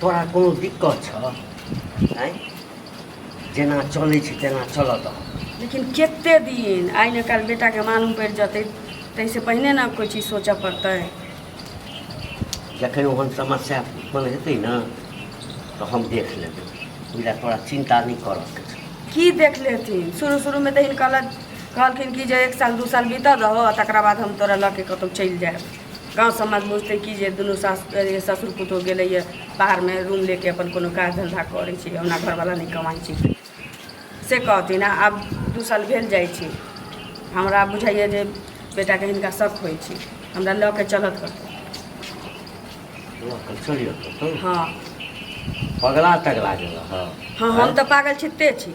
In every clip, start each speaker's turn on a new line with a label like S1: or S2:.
S1: तोरा कोनो दिक्कत छ आँय जेना चलै छै तेना चलऽ दह लेकिन कते दिन आइ ने काल्हि बेटाके मालूम पड़ि जेतै ताहिसँ पहिने ने कोइ चीज सोचऽ पड़तै जखन ओहन समस्या उत्पन्न हेतै ने तऽ हम देख लेबै ओहि लए तोरा चिन्ता नहि करऽके छै की देख लेथिन शुरू शुरूमे तऽ हिनका लग कहलखिन कि जे एक साल दू साल बीतऽ दहो आ तकरा बाद हम तोरा लऽ के कतहु चलि जायब गाँव समाज बुझतै कि जे दुनू सास अरे ससुर पुतोह गेलैए बाहरमे रूम लेके अपन कोनो काज धन्धा करै छै हमरा घरवला नहि कमाइ छै से कहथिन आ आब दू साल भेल जाइ छै हमरा बुझाइए जे बेटाके हिनका शक होइ छै हमरा लऽ के चलत कतहु लऽ कऽ चलियौ कतहु हँ पगला तगला गेलऽ हँ हँ हम तऽ पागल छिते छी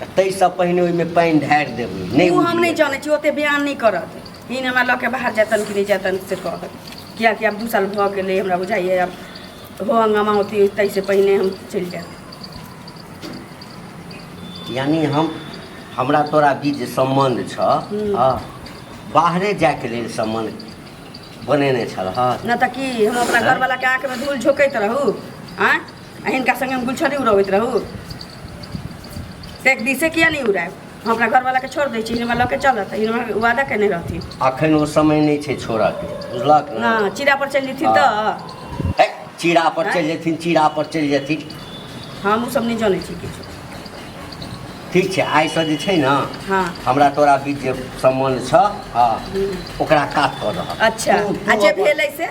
S1: तऽ ताहिसँ पहिने ओहिमे पानि ढारि देबै नहि ओ हम नहि उड़िए। जानै छी ओते बयान नहि करत ई नहि हमरा लऽ के बाहर जेतन कि नहि जेतन से कहत कियाकि आब दू साल भऽ गेलै हमरा बुझाइए आब हो हंगामा होती ताहिसँ पहिने हम चलि जायब यानि हम हमरा तोरा बीच जे सम्बन्ध छह हूँ। हँ, बाहरे जायके लेल सम्बन्ध बनेने छलह नहि तऽ की हम अपना घरवलाके आँखिमे धूल झोंकैत रहू आँय आ हिनका संगे हम गुलछरी उड़बैत रहू एक दिसे किया नहीं उड़ायब हम अपना घरवाला के छोड़ दै छी हिनका लऽ के चलत हिनका वादा केने रहथिन अखन ओ समय नहि छै छोड़ा के बुझलक ने हँ चिड़ा पर चलि जेथिन तऽ हे, चीड़ा पर चलि जेथिन चीड़ा पर चलि जेथिन हम ओ सब नहि जानै छी किछु ठीक छै आइसँ जे छै ने हँ हमरा तोरा बीच जे सम्बन्ध छ हँ ओकरा काट कऽ दह अच्छा आ जे भेलै से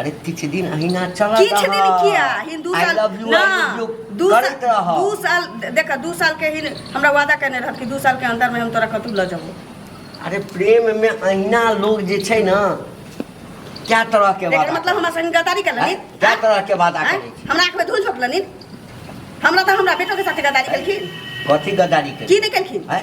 S1: अरे किछु दिन अहिना चलत किछु दिन रहत। किया हिंदू I साल love you, I love you ना दू करैत साल रहब। दू साल देख दू साल के ही हमरा वादा करने रहत कि दू साल के अंदर में हम तोरा कतू लऽ जाबो अरे प्रेम में अहिना लोग जे छै ना क्या तरह के एकर वादा मतलब हमरा संग गद्दारी कर हैं? लेनी क्या तरह के वादा हैं? करै छी हमरा आँख में धूल झोंक लेनी हमरा तो हमरा बेटो के साथ गद्दारी केलखिन कथी गद्दारी करै की नहि केलखिन हैं?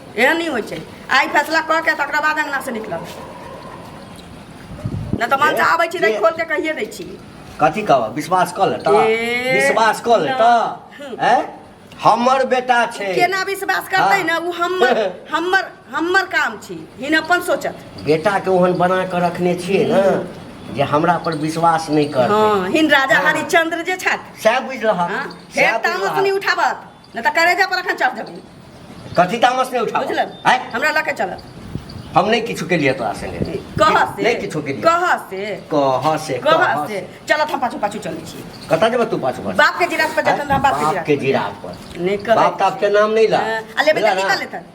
S1: एहन नहि होइ छै आइ फैसला कऽ के तकरा बाद अंगना से निकलब नहि तऽ मन से आबै छी तऽ खोल के कहिए दै छी कथी कहब विश्वास कऽ ले तऽ ए, विश्वास कऽ ले तऽ हैं हमर बेटा छै केना विश्वास करतै हाँ। ने ओ हमर हमर हमर काम छी हिन अपन सोचत बेटा के ओहन बना कऽ रखने छियै ने जे हमरा पर विश्वास नहि करतै हँ हिन राजा हाँ। हरिश्चंद्र जे छथि सएह बुझि रहल हाँ, फेर तामस नहि उठाबत नहि तऽ करेजा पर अखन चढ़ देबी कथी तामस नहि उठा बुझल आय हमरा लऽ के चल हम नहीं किछु के लिए तोरा संगे कह से नहीं किछु के लिए कह से कह से कह से चल हम पाछू पाछू चलै छी कतऽ जेबे तू पाछू पाछू बाप के जिरात पर जखन बाप के जिरात पर नहीं कर बाप का आपके नाम नहीं ला अले बेटा निकल लेता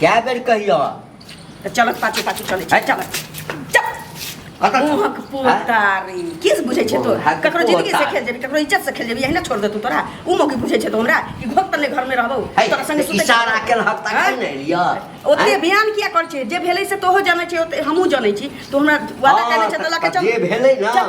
S1: कए बेर कहियो तऽ चलत पाछू पाछू चलै छै चल चल कतऽ मुहक पोतारी की से बुझै छै तो मुहक ककरो जिंदगी से पोतारी। खेल जेबी ककरो इज्जत से खेल जेबी एहिना छोड़ दे तू तोरा उ मौकी बुझै छै तो हमरा कि घोक तले घर में रहबौ है, तोरा संगे सुतै इशारा छियै। केल हक तक हाँ? नहि लिअ ओते बयान किया कर छै जे भेलै से तोहो जानै छै ओते हमहूँ जानै छी तो हमरा वादा हँ, केने छै तऽ लऽ के तऽ चल जे भेलै ने चल।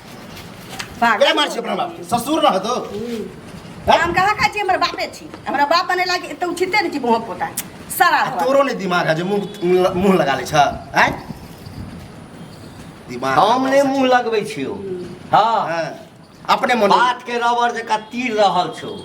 S1: पागल के मार छी अपना बाप के? ससुर रह दो हम कहा का छी हमर बापे छी हमरा बाप बने लागे एते उचिते नहीं छी बहुत पोता सारा आ घर। तोरो ने दिमाग है जे मुंह मुंह लगा ले छ हैं दिमाग हम ने मुंह लगबै छियो हाँ हाँ, अपने मन बात के रबर जका तीर रहल छौ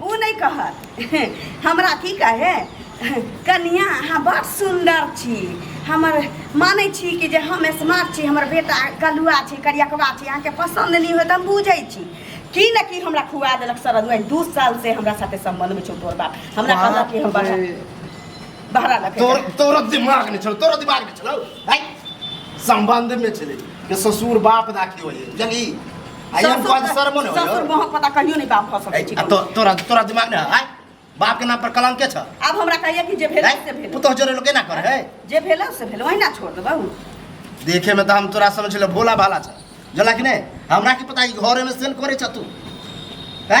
S1: ओ नहि कहत हमरा की कहे कनिया अहाँ बड़ सुन्दर छी हमर मानै छी कि जे हम स्मार्ट छी हमर बेटा कलुआ छी करियकवा छी अहाँके पसन्द नहि होत हम बुझै छी की न की हमरा खुआ देलक सरद में दू साल से हमरा साथे संबंध में छौ तोर बाप हमरा कहलक कि हम बाहर बाहर लगे तोर तोर दिमाग नहीं छौ तोर दिमाग नहीं छौ भाई संबंध में चले के ससुर बाप दाखी होए जली आई एम कॉज सर मोने होयो ससुर मोह पता कहियो नहीं बाप हो सके छी तो तोरा तोरा दिमाग ना है बाप के नाम पर कलंक छ अब हमरा कहिए कि जे भेल से भेल पुतो जोरे लोके ना करे है जे भेल से भेल वही ना छोड़ देबौ देखे में तो हम तोरा समझ ले भोला भाला छ जला कि नहीं हमरा की पता ई घरे में सेल करे छ तू है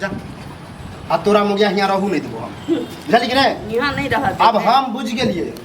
S1: जा आ तोरा मुगिया हियाँ रहू नहि देबो हम बुझलियै कि नहि यहाँ नहीं रह अब हम बुझि गेलियै